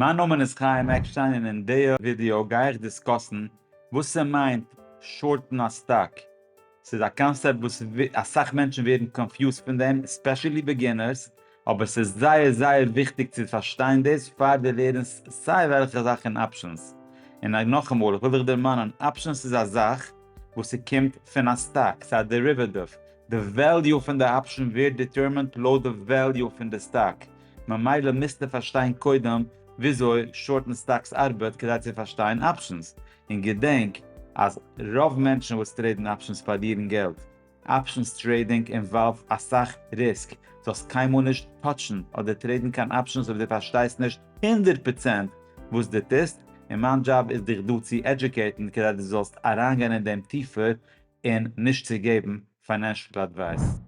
מיין נאמען איז חיים עקשטיין און אין דיע ווידיאו גיי איך דיסקאסן וואס ס'מיינט שארטן א סטאק. ס'איז א קאנסעפט וואס אסאך מענטשן ווערן קאנפיוזט פון דעם, עספעשעלי ביגינערס, אבער ס'איז זייער זייער וויכטיג צו פארשטיין דאס פאר דו לערנסט סיי וועלכע זאך אין אפשענס. און נאכאמאל, איך וויל דיך דערמאנען, אפשענס איז א זאך וואס ס'קומט פון א סטאק, ס'איז א דעריוועטיוו. די וועליו פון די אפשען ווערט דיטערמינט לויט די וועליו פון די סטאק. ממילא מוזטו פארשטיין קודם וויאזוי שארטן סטאקס ארבעט כדי צו פארשטיין אפשענס, און געדענק אז רוב מענטשן וואס טרעידן אפשענס פארלירן געלט, אפשענס טרעידינג אינוואלווד אסאך ריסק, זאלסט קיינמאל נישט טאטשן אדער טרעידן קיין אפשענס אויב דו פארשטייסט נישט הונדערט פראצענט וואס דו טוסט, און מיין דזשאב איז דיך דא צו עדזשוקעיטן כדי דו זאלסט אריינגיין אין דעם טיפער און נישט צו געבן פיינענשל עדווייס.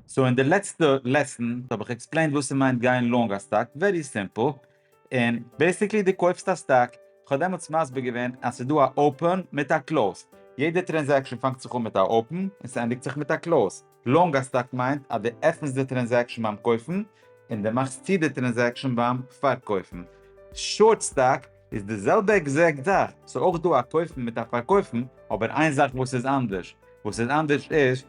סאו אין די לעצטע לעסן האב איך עקספלעינד וואס ס'מיינט גיין לאנג א סטאק, ווערי סימפל, און בעסיקלי דו קויפסט א סטאק, איך האב דעמאלטס מסביר געווען אז ס'איז דא א open מיט א close, יעדע טרענזעקשן פאנגט זיך אן מיט א open און ס'ענדיגט זיך מיט א close, לאנג א סטאק מיינט אז דו עפענסט די טרענזעקשן ביים קויפן און דו מאכסט צו די טרענזעקשן ביים פארקויפן, שארט סטאק איז די זעלבע עקזעקט זאך, ס'איז אויך דא א קויפן מיט א פארקויפן, אבער איין זאך וואס איז אנדערש, וואס איז אנדערש איז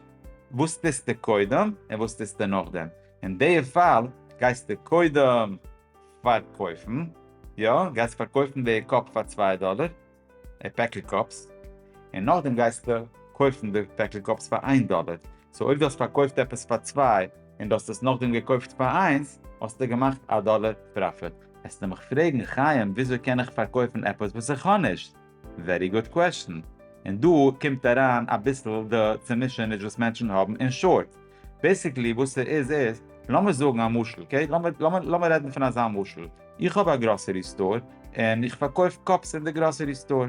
וואס טוסטו קודם און וואס טוסטו נאכדעם, אין די פאל גייסטו קודם פארקויפן, יא, גייסט פארקויפן די קאפ פאר צוויי דאלער, די פעקל קאפס, און נאכדעם גייסטו קויפן די פעקל קאפס פאר איין דאלער, סאו אויב דו האסט פארקויפט עפעס פאר צוויי און דו האסט עס נאכדעם געקויפט פאר איינס, האסטו געמאכט א דאלער פראפיט. העסטו מיך פרעגן חיים וויאזוי קען איך פארקויפן עפעס וואס איך האב נישט? ווערי גוד קוועשטן. און דא קומט אריין אביסל די צומישעניש וואס מענטשן האבן אין שארט. בעיסיקלי וואס ס'איז איז, לאמיר זאגן א משל אקעי, לאמיר רעדן פון אזא משל, איך האב א גראסערי סטאר און איך פארקויף קאפס אין די גראסערי סטאר.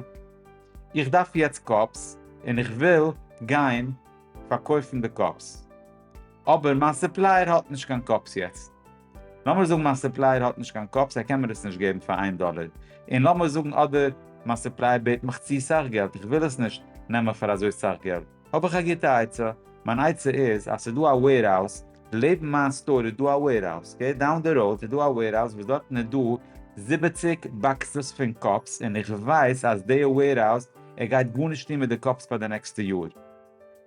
איך דארף יעצט קאפס און איך וויל גיין פארקויפן די קאפס. אבער מיין סופלייער האט נישט קיין קאפס יעצט. לאמיר זאגן מיין סופלייער האט נישט קיין קאפס ער קען מיר עס נישט געבן פאר איין דאלער, און לאמיר זאגן אדער מיין סופלייער בעט מיך צו סאך געלט איך וויל עס נישט נעמען פאר אזוי סאך געלט, האב איך א גוטע עצה, מיין עצה איז אז ס'איז דא א וועירהאוז, לעבן מיין סטאר איז דא א וועירהאוז, אקעי, דאון די ראוד איז דא א וועירהאוז וואס דארטן איז דא זיבעציק באקסעס פון קאפס און איך ווייס אז דעיע וועירהאוז ער גייט גארנישט טון מיט די קאפס פאר די נעקסטע יאר,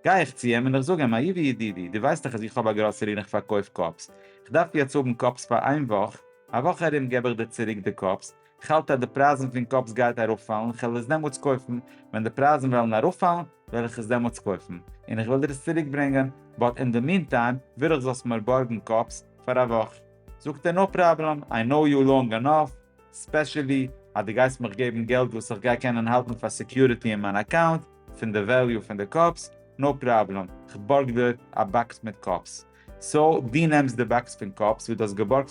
גיי איך צו אים און איך זאג אים, אהובי ידידי, דו ווייסט דאך אז איך האב א גראסערי און איך פארקויף קאפס, איך דארף יעצט האבן קאפס פאר איין וואך, א וואך ארום געב איך דיר צוריק די קאפס, איך האלט אז די פרייזן פון קאפס גייט אראפפאלן, איך וועל עס דעמאלטס קויפן, ווען די פרייזן וועלן אראפפאלן וועל איך עס דעמאלטס קויפן, און איך וועל דיר עס צוריק ברענגען, באט אין די מין טיים וויל איך זאלסט מיר בארגן קאפס פאר א וואך. זאגט ער נאו פראבלעם, איי נאו יו לאנג ענאף, ספעשעלי אז דו גייסט מיך געבן געלט וואס איך גיי קענען האלטן פאר סעקיוריטי אין מיין אקאונט, פון די וועליו פון די קאפס, נאו פראבלעם, כ'בארג דיר א באקס מיט קאפס. סאו דו נעמסט די באקס פון קאפס וואס דו האסט געבארגט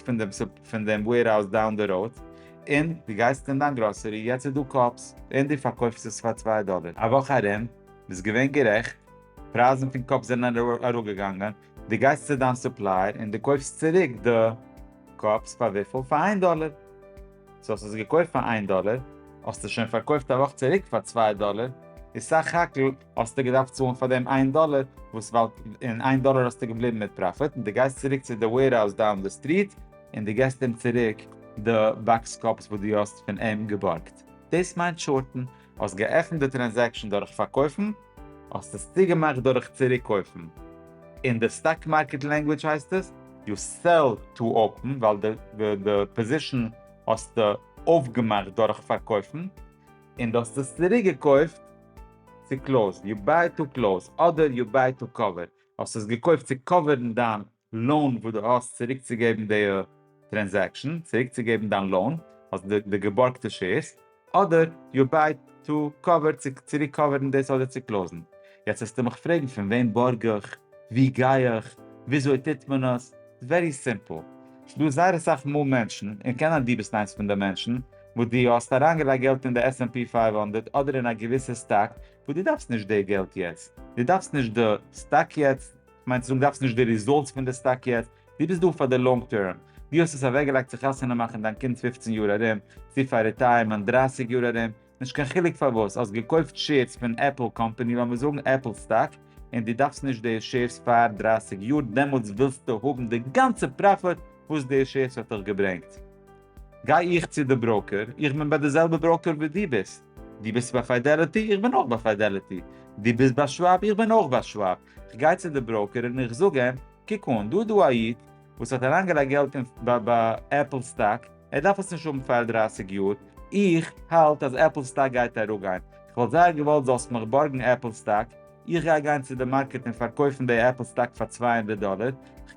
פון דעם וועירהאוז דאון די ראוד, און דו גייסט אין דיין גראסערי, יעצט איז דא קאפס, און דו פארקויפסט עס פאר צוויי דאלער. א וואך ארום, ביסט געווען גערעכט, פרייזן פון קאפס זענען אראפגעגאנגען, די גייסט צו דיין סופלייער און די קויפסט צוריק די קאפס פאר וויפיל? פאר איין דאלער. סאו האסט עס געקויפט פאר איין דאלער, האסטו שוין פארקויפט א וואך צוריק פאר צוויי דאלער, איז סך הכל האסטו געדארפט צאלן פאר דעם איין דאלער, וואס וואלט און איין דאלער האסטו געבליבן מיט פראפיט, און די גייסט צוריק צו די וועירהאוז דאון די סטריט און די געסט אים צוריק די באקס קאפס וואס די האסט פון אים געבארגט. דאס מיינט שארטן. האסט געעפנט די טרענזעקשאן דורך פארקויפן, האסט עס צוגעמאכט דורך צוריק קויפן. אין די סטאק מארקעט לענגוויטש הייסט עס, יו סעל טו אפען, ווייל די פאזישאן האסטו אויפגעמאכט דורך פארקויפן, און דו האסט עס צוריק געקויפט צו קלאוזד, יו ביי טו קלאוז, אדער יו ביי טו קאווער, האסט עס געקויפט צו קאווערן דיין לאון וואס דו האסט צוריק צו געבן די טרענזעקשן, צוריק צו געבן דיין לאון, אלס די געבארגטע שעירס, אדער יו ביי טו קאווער צו צוריק קאווערן דאס אדער צו קלאוזן. יעצט וועסטו מיך פרעגן פון וועם בארג איך, ווי גיי איך, וויאזוי טוט מען עס, ווערי סימפל, ס'דא זייער אסאך מאל מענטשן, און קען זיין דו ביסט איינס פון די מענטשן, וואס דו האסט אריינגעלייגט געלט אין די עס ענד פי פֿינף הונדערט אדער אין א געוויסע סטאק וואס דו דארפסט נישט די געלט יעצט, דו דארפסט נישט די סטאק יעצט, מיינט צו זאגן דארפסט נישט די ריזאלטס פון די סטאק יעצט, דו ביסט דא פאר די לאנג טערם, דו האסט עס אוועקגעלייגט צו חתונה מאכן דיין קינד פֿופֿצן יאר ארום, צו פאר ריטייערמענט דרײַסיק יאר ארום, נישט קיין חילוק פארוואס, האסט געקויפט שעירס פון עפל קאמפאני, לאמיר זאגן עפל סטאק, און דו דארפסט נישט די שעירס פאר דרײַסיק יאר, דעמאלטס ווילסטו האבן די גאנצע פראפיט וואס די שעירס האט דיך געברענגט. גיי איך צו די בראוקער, איך בין ביי די זעלבע בראוקער וואס דו ביסט, דו ביסט ביי פיידעליטי, איך בין אויך ביי פיידעליטי, דו ביסט ביי שוואב, איך בין אויך ביי שוואב, כ'גיי צו די בראוקער און איך זאג אים, קוק אן, דא איז דא א איד וואס האט אריינגעלייגט געלט אין עפל סטאק, ער דארף עס נישט האבן פאר דרייסיג יאר, איך האלט אז עפל סטאק גייט אראפגיין, כ'וואלט זייער געוואלט זאלסט מיך בארגן עפל סטאק, איך גיי גיין צו די מארקעט און פארקויפן די עפל סטאק פאר צוויי הונדערט דאלער,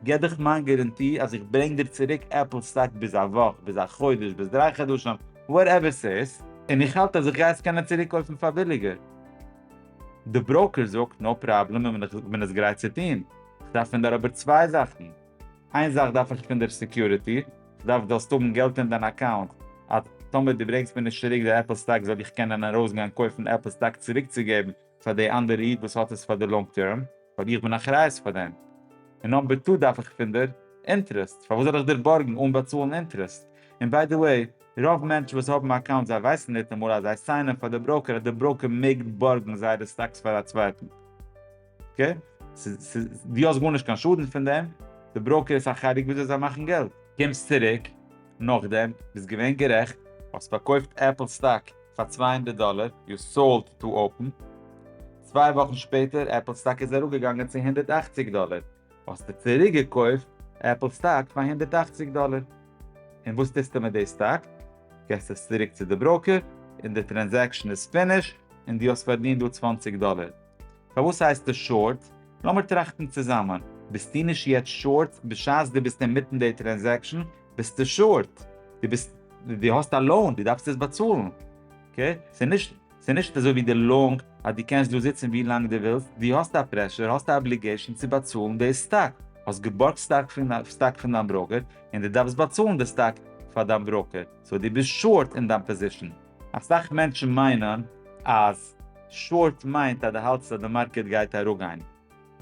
כ'געב דיך מיין גאראנטי אז איך ברענג דיר צוריק עפל סטאק ביז א וואך, ביז א חודש, ביז דריי חדשים, וואטעווער ס'איז, און איך האלט אז איך גיי עס קענען צוריקקויפן פאר ביליגער. די בראוקער זאגט, נאו פראבלעם, און איך בין עס גרייט צו טון. איך דארף פון דיר אבער צוויי זאכן. איין זאך דארף איך פון דיר סעקיוריטי, איך דארף דו זאלסט האבן געלט אין דיין אקאונט אז טאמער דו ברענגסט מיר נישט צוריק די עפל סטאק זאל איך קענען ארויסגיין קויפן עפל סטאק צוריקצוגעבן פאר די אנדערע איד וואס האט עס פאר די לאנג טערם. ווייל איך בין אחריות פאר דעם, און נאמבער טו דארף איך פון דיר אינטערעסט, פארוואס זאל איך דיר בארגן אן באצאלן אינטערעסט? און ביי די וועי, רוב מענטשן וואס האבן א אקאונט זיי ווייסן ניטאמאל אז זיי סיינען פאר די בראוקער אז די בראוקער מעג בארגן זייערע סטאקס פאר א צווייטן, אקעי? דו האסט גארנישט קיין שאדן פון דעם, די בראוקער איז אחראי וויאזוי זיי מאכן געלט. קומסט צוריק נאכדעם, ביסט געווען גערעכט, האסט פארקויפט עפל סטאק, פאר צוויי הונדערט דאלער. יו סאלד טו אפען. צוויי וואכן שפעטער עפל סטאק איז אראפגעגאנגען צו הונדערט אַכציק דאלער. האסטו צוריק געקויפט עפל סטאק פאר הונדערט אַכציק דאלער. און וואס טוסטו מיט די סטאק? געסט עס צוריק צו די בראוקער און די טרענזעקשן איז פיניש און דו האסט פארדינט דא צוואַנציק דאלער. פארוואס הייסט עס שארט? לאמיר טראכטן צוזאמען, ביסטו נישט יעצט שארט, בשעת דו ביסט אינמיטן די טרענזעקשאן ביסטו שארט, דו ביסט, דו האסט א לאון, דו דארפסט עס באצאלן, אקעי? ס'איז נישט, ס'איז נישט אזוי ווי די לאונג אז דו קענסט דא זיצן ווי לאנג דו ווילסט, דו האסט א פרעשור, האסט א אבליגעישאן צו באצאלן די סטאק, האסט געבארגט סטאק פון, סטאק פון דיין בראוקער, און דו דארפסט באצאלן די סטאק פאר דיין בראוקער, סאו דו ביסט שארט אין דיין פאזישאן. אסאך מענטשן מיינען אז שארט מיינט אז די האלטסט אז די מארקעט גייט אראפגיין.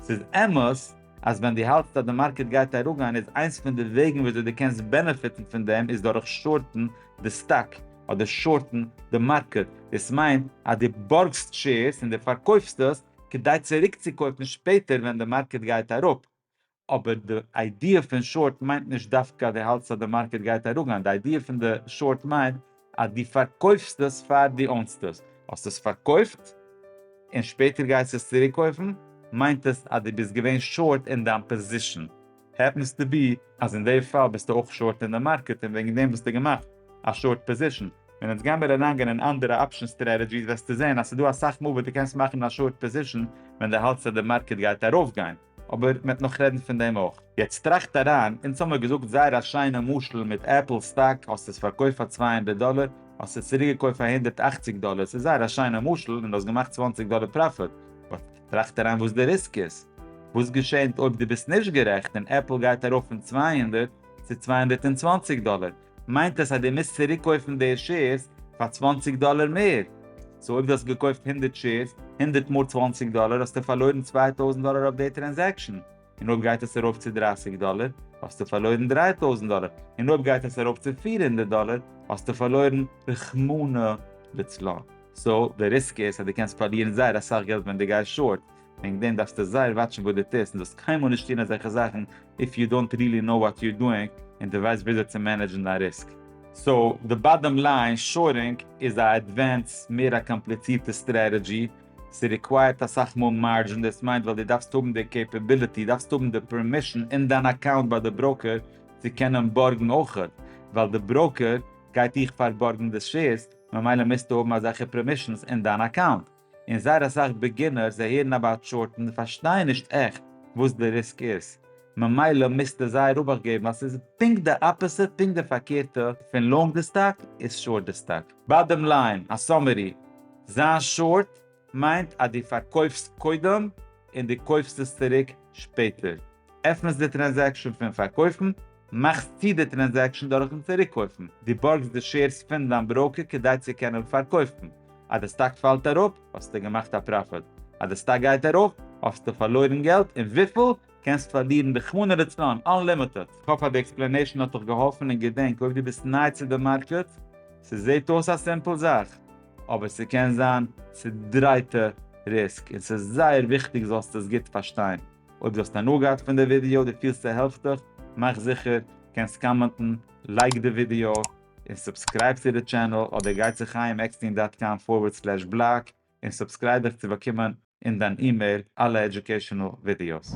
ס'איז אמת אז ווען די האלטסט אז די מארקעט גייט אראפגיין איז איינס פון די וועגן וויאזוי די קענסט בענעפיטן פון דעם איז דורך שארטן די סטאק אדער שארטן די מארקעט. דאס מיינט אז די בארגסט שעירס און די פארקויפסט עס כדי צוריקצוקויפן שפעטער ווען די מארקעט גייט אראפ. אבער די איידיע פון שארט מיינט נישט דווקא אז דו האלטסט אז די מארקעט גייט אראפגיין, די איידיע פון די שארט מיינט אז דו פארקויפסט עס פאר דו אונסט עס, האסט עס פארקויפט און שפעטער גייסטו עס צוריק קויפן, מיינט עס אז דו ביסט געווען שארט אין דיין פאזישאן. העפענס טו בי אז אין די פאל ביסטו אויך שארט אין די מארקעט און וועגן דעם האסטו געמאכט א שארט פאזישאן. ווען אונז גיימיר אריינגיין אין אנדערע אפשען סטרעטעגיס וועסטו זען אז ס'דא אסאך מאל וואס דו קענסט מאכן א שארט פאזישאן ווען דו האלטסט אז די מארקעט גייט ארויפגיין, אבער מ'עט נאך רעדן פון דעם אויך. יעצט טראכט אריין, אונז האמיר געזאגט זייער א שיינע משל מיט עפל סטאק, האסט עס פארקויפט פאר צוויי הונדערט דאלער, האסט עס צוריקגעקויפט פאר הונדערט אַכציק דאלער, ס'איז זייער א שיינע משל און דו האסט געמאכט צוואַנציק דאלער פראפיט, באט טראכט אריין וואס די ריסק איז. וואס געשענט אויב דו ביסט נישט גערעכט און עפל גייט ארויף פון צוויי הונדערט צו צוויי הונדערט און צוואַנציק דאלער? מיינט עס אז דו מוזט צוריק קויפן די שעירס פאר צוואַנציק דאלער מער, סאו אויב דו האסט געקויפט הונדערט שעירס הונדערט מאל צוואַנציק דאלער האסטו פארלוירן צוויי טויזנט דאלער אויף די טרענזעקשאן, און אויב גייט עס ארויף צו דרײַסיק דאלער האסטו פארלוירן דרײַ טויזנט דאלער, און אויב גייט עס ארויף צו פֿיר הונדערט דאלער האסטו פארלוירן רחמנא לצלן. סאו די ריסק איז אז דו קענסט פארלירן זייער אסאך געלט ווען דו גייסט שארט, וועגן דעם דארפסטו זייער וואטשן וואס דו טוסט און זאלסט קיינמאל נישט טון אזעלכע זאכן איף יו דאנט רילי נאו וואט יו דואינג און דו ווייסט וויאזוי צו מענעדזשן דיין ריסק. סאו די באדאם ליין, שארינג איז א עדווענס, מער א קאמפליצירטע סטרעטעדזשי, ס'ריקווייערט אסאך מאל מארדזשין, דאס מיינט ווייל דו דארפסט האבן די קעפעביליטי, דארפסט האבן די פערמישן אין דיין אקאונט ביי די בראוקער צו קענען בארגן אויכעט, ווייל די בראוקער גייט דיך פארבארגן די שעירס, ממילא מוזטו האבן אזעלכע פערמישנס אין דיין אקאונט. און זייער אסאך ביגינערס זיי הערן אבאוט שארט און זיי פארשטייען נישט עכט וואס די ריסק איז, ממילא מוזטו זייער אבאכט געבן אז ס'איז פונקט די אפעסיט פונקט די פארקערטע פון לאנג די סטאק איז שארט די סטאק. באדעם ליין, א סאמערי, זיין שארט מיינט אז דו פארקויפסט קודם און דו קויפסט עס צוריק שפעטער. עפענסט די טרענזעקשאן פון פארקויפן, מאכסט צו די טרענזעקשאן דורכן צוריקקויפן, דו בארגסט די שעירס פון דיין בראוקער כדי צו קענען פארקויפן, אז די סטאק פאלט אראפ, האסטו געמאכט א פראפיט, אז די סטאק גייט ארויף, האסטו פארלוירן געלט, און וויפיל? קענסט פארלירן רחמנא לצלן, אנלימיטעד. כ'האף אז די עקספלענעישן האט דיך געהאלפן און געדענק אויב דו ביסט ניי צו די מארקעט, ס'זעהט אויס א סימפל זאך, אבער ס'קען זיין צודרייטע ריסק, און ס'איז זייער וויכטיג זאלסט עס גוט פארשטיין. אויב דו האסט הנאה געהאט פון די ווידיאו, דו פילסט ס'העלפט דיך, מאך זיכער קענסט קאמענטן, לייק די ווידיאו, און סובסקרייב צו די טשענעל, אדער גיי צו חיים עקסטין דאט קאם פארווערד סלעש בלאג און סובסקרייב דיך צו באקומען אין דיין אימעיל אלע עדיוקעישאנעל ווידיאוס.